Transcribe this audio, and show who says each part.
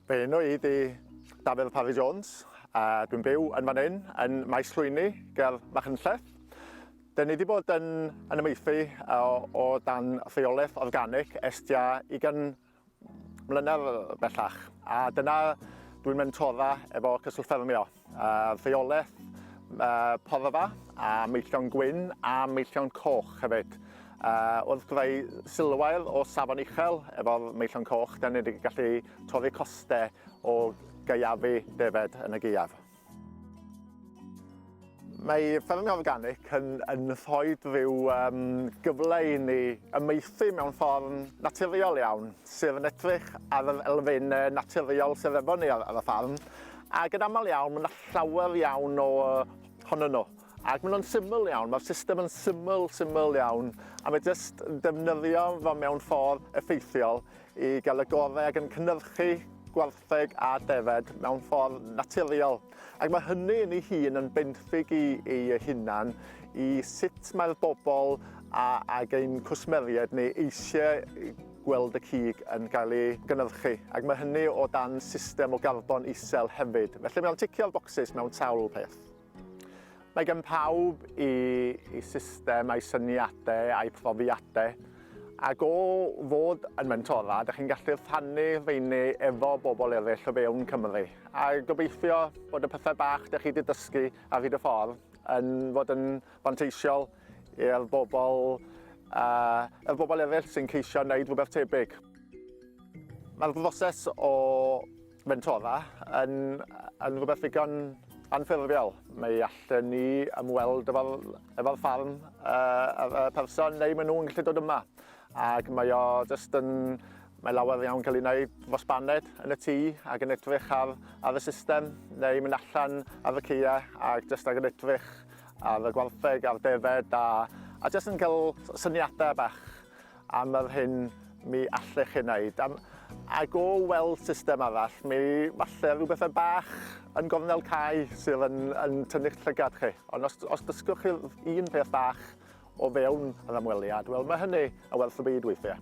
Speaker 1: Fy enw i di Dafydd Parry Jones a dwi'n byw yn fan hyn yn Maes Llwyni ger Machynlleth. Dyn ni wedi bod yn, yn ymaethu o, o dan rheolaeth organic estia i gan mlynedd bellach a dyna dwi'n mentora efo Cyswllt Ffermio, rheolaeth porfa a meillion gwyn a meillion coch hefyd. Wrth greu silwair o safon uchel efo'r meillion coch, da ni wedi gallu torri costau o gaeafu defaid yn y gaeaf. Mae Ffermio Organic yn, yn rhoi rhyw um, gyfle i ni ymeithi mewn ffordd naturiol iawn, sydd yn edrych ar yr elfen naturiol sydd efo ni ar, ar y ffarm, ac yn aml iawn mae yna llawer iawn o honno nhw. Ac maen nhw'n syml iawn, mae'r system yn syml, syml iawn, a mae jyst defnyddio fo mewn ffordd effeithiol i gael y gorau ac yn cynnyrchu gwartheg gwartheg a defaid mewn ffordd naturiol ac mae hynny yn ei hun yn benthyg i ei hunan i sut mae'r bobl a, ag ein cwsmeriaid ni eisiau gweld y cig yn cael ei gynnyrchu ac mae hynny o dan system o garbon isel hefyd. Felly mae'n ticio'r bocsys mewn sawl peth. Mae gan pawb i, i system a'i syniadau a'i profiadau ac o fod yn mentora, ydych chi'n gallu rhannu rheini efo bobl eraill o fewn Cymru. A gobeithio bod y pethau bach ydych chi wedi dysgu ar hyd y ffordd yn fod yn fanteisiol i'r bobl, uh, y bobl eraill sy'n ceisio wneud rhywbeth tebyg. Mae'r broses o Fentona yn, yn rhywbeth ddigon anffurfiol. Mae allan ni ymweld efo'r efo ffarm uh, y person neu maen nhw'n gallu dod yma. Ac mae o just yn, mae lawer iawn cael ei wneud fos baned yn y tŷ ac yn edrych ar, ar y system neu mynd allan ar y ceia ac just ac yn edrych ar y gwartheg a'r defed a, a just yn cael syniadau bach am yr hyn mi allech ei wneud. Am, ac o weld system arall, mi falle rhyw bethau bach yn gornel cae sydd yn, yn tynnu'ch llygad chi. Ond os, os dysgwch chi un peth bach o fewn yr ymweliad, wel mae hynny yn werth y byd weithiau.